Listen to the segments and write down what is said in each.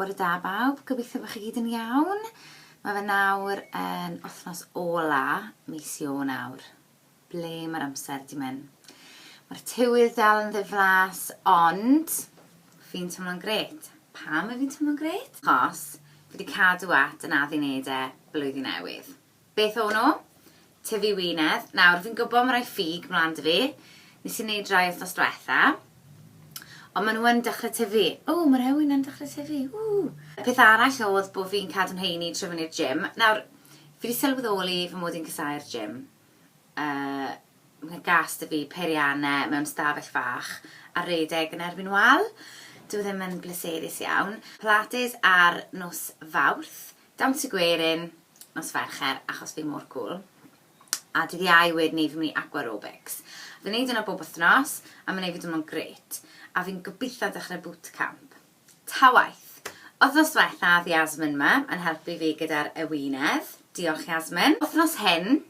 Bore da bawb, gobeithio bod chi gyd yn iawn. Mae fe nawr yn wythnos ola mis nawr. Ble mae'r amser di mynd? Mae'r tywydd dal yn ddiflas, ond fi'n teimlo'n gret. Pam mae fi'n teimlo'n gret? Chos fi wedi cadw at yn addu neud e blwyddyn newydd. Beth o'n nhw? Tyfu wynedd. Nawr, fi'n gwybod mae rhai ffug mlaen da fi. Nes i wneud rhai wythnos diwetha. Ond maen nhw yn dechrau tyfu. O, mae rhai wynau'n dechrau tyfu. Ww! Y peth arall oedd bod fi'n cadw'n heini trwy fynd i'r gym. Nawr, fi wedi sylweddoli fy mod i'n casáu'r gym. Yy, mae'n gas da fi peiriannau mewn stafell fach a rhedeg yn erbyn wal. Dyw e ddim yn bleserus iawn. Pilates ar nos Fawrth. Dawns y gwerin, nos Fercher, achos fi mor cwl. A dydd Iau wed ni fi'n mynd i Aqua Robics. Fi'n neud hwnna bob wythnos, a ma'n neud fi teimlo'n grêt. A fi'n gobitho dechre boot camp. Ta waeth! Wythnos dwetha ath Yasmin ma, yn helpu fi gyda'r ewinedd. Diolch Yasmin. Wythnos hyn,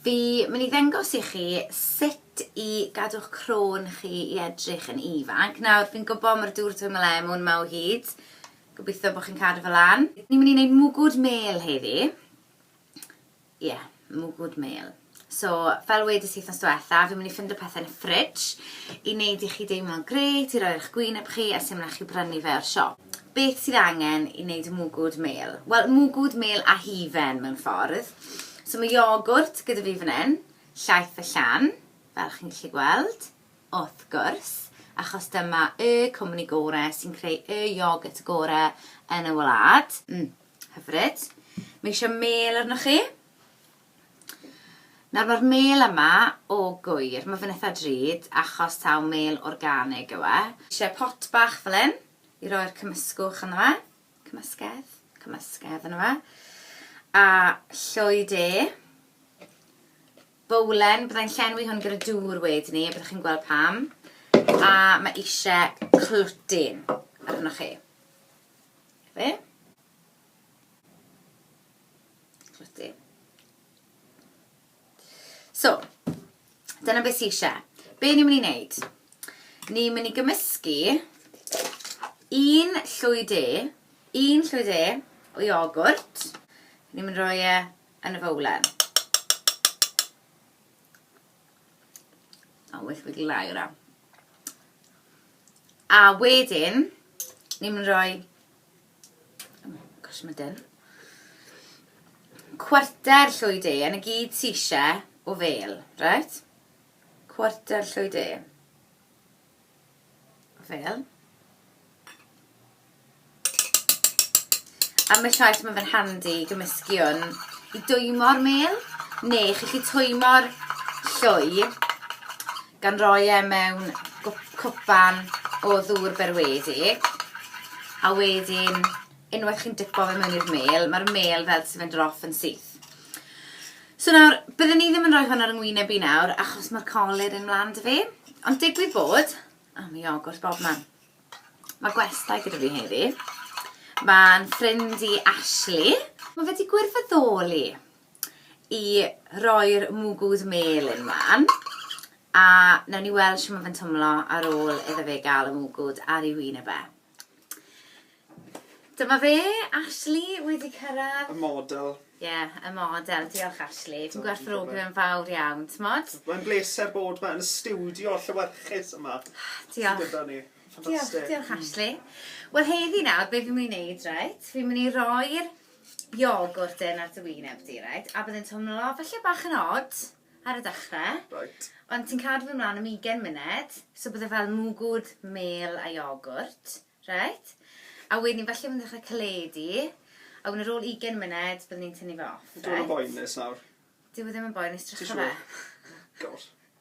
Fi mynd i ddengos i chi sut i gadw'ch crôn chi i edrych yn ifanc. Nawr, fi'n gwybod mae'r dŵr twym y lemwn ma o hyd. Gobeithio bod chi'n cadw fe lan. Ni'n mynd i wneud mwgwd mêl heddi. Ie, yeah, mwgwd mêl. So, fel wedys i wythnos diwetha, fi'n mynd i ffindo pethau yn y fridge i wneud i chi deimlo'n grêt, i roi ar eich gwyneb chi a symlach i brynu fe o'r siop. Beth sydd angen i wneud mwgwd mêl? Wel, mwgwd mêl a hufen mewn ffordd. So mae iogwrt gyda fi fan hyn, llaeth y llan, fel chi'n gallu gweld, wrth gwrs, achos dyma y cwmni gore sy'n creu y iogwrt gore yn y wlad. Mm, hyfryd. Mae eisiau mêl arnoch chi. Nawr mae'r mêl yma o gwyr. Mae fe'n itha drud achos taw mêl organig yw e. Isie pot bach fel hyn i roi'r cymysgwch ynddo fe. Cymysgedd? Cymysgedd ynddo fe. A llwy de. Bowlen, bydda i'n llenwi hwn gyda dŵr wedyn ni, byddwch chi'n gweld pam. A mae isie clwtyn arnoch chi. Fe? Rydw. So, dyna beth sy'n eisiau. Be ni'n mynd i wneud? Ni'n mynd i gymysgu un llwy de, un llwy de o iogwrt. Ni'n mynd roi e yn y fowlen. O, weithio wedi lai o'r am. A wedyn, ni'n mynd roi Gosh, mae dyn. Cwarter llwy de, yn y gyd ti eisiau o fel, right? Cwarter llwy de. Fel. A mae llaeth mae fe'n handi i gymysgu hwn i dwymo'r mel, neu chi chi twymo'r llwy gan roi e mewn cwpan o ddŵr berwedi a wedyn unwaith chi'n dipo fe mewn i'r mêl, mae'r mêl fel sy'n mynd roff yn syth. So nawr, byddwn ni ddim yn rhoi hwn ar yngwyneb i nawr achos mae'r colur yn mlaen dy fi, ond digwydd bod, a mae iogwrt bob man. Mae gwestai gyda fi heddi. Mae'n ffrind i Ashley. Mae fe wedi gwirfoddoli. i roi'r mwgwd melyn mlan a newn ni weld shwt ma' fe'n twmlo ar ôl iddo fe gael y mwgwd ar ei wyneb e. Dyma fe, Ashley wedi cyrraedd. Y model. Ie, y model. Diolch Ashley. Dwi'n gwerthfawrogi fe'n fawr iawn, t'mod? Mae'n bleser bod fe yn y stiwdio llewyrchus yma. Diolch. Sydd gyda ni. Ffantastig. Diolch, diolch Ashley. Wel heddi nawr be' fi myn' i neud reit, fi myn' i roi'r iogwrt yn ar dy wyneb di, reit? A byddai'n teimlo falle bach yn odd ar y dechrau. Right. Ond ti'n cadw fy mlaen am 20 munud, so bydde fel mwgwd, mêl a iogwrt, reit? A wedyn ni falle fy'n dechrau caledu, a wedyn ar ôl 20 munud, byddwn ni'n tynnu fe off, reit? Dwi'n yn boenus nawr. Dyw e ddim yn boenus, drycha fe. God.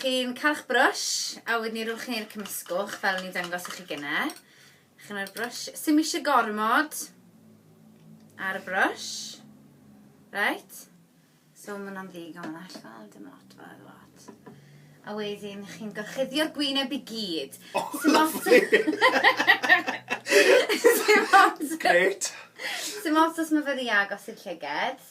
Chi'n cael brush, a wedyn ni rhywch chi'r cymysgwch fel ni'n dangos i chi gynne. Chi'n rhoi'r brush, sy'n eisiau gormod ar y brush. Right? So mae hwnna'n ddigon allan, dim lot fel dim lot. A wedyn chi'n gorchuddio'r gwyneb i gyd. Oh, Sy'n lovely! Sy'n Great! Sy'n os mae fe ddi agos i'r llyged.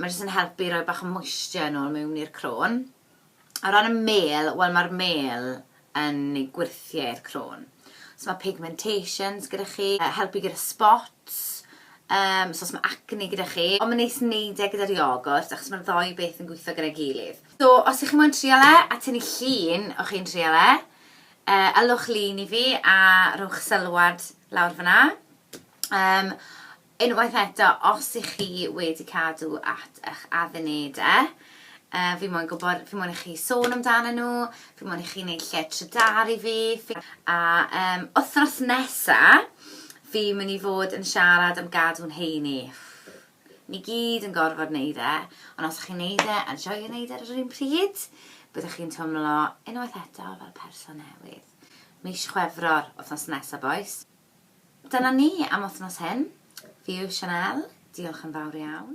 Mae jyst yn helpu i roi bach o moisture yn ôl mewn i'r crôn. O ran y mêl, wel mae'r mêl yn ei gwyrthiau i'r crôn. Os mae pigmentations gyda chi, helpu gyda spots, um, so os mae acne gyda chi. Ond mae'n neis wneud e gyda'r iogwrt achos mae'r ddoi beth yn gweithio gyda'i gilydd. So, os ych chi moyn trial e, a tynnu llun o chi'n trial e, uh, ylwch lun i fi a rhowch sylwad lawr fyna. Um, Unwaith eto, os i chi wedi cadw at eich addunede, fi moyn gwybod, fi moyn i chi sôn amdano nhw, fi moyn i chi wneud lle trydar i fi, a um, wythnos nesa, fi mynd i fod yn siarad am gadw'n heini. Ni gyd yn gorfod wneud e, ond os chi'n wneud e a joio wneud e ar yr un pryd, byddwch chi'n twmlo unwaith eto fel person newydd. Mis Chwefror, wythnos nesa boys. Dyna ni am wthnos hyn. Fi yw Sianel, diolch yn fawr iawn.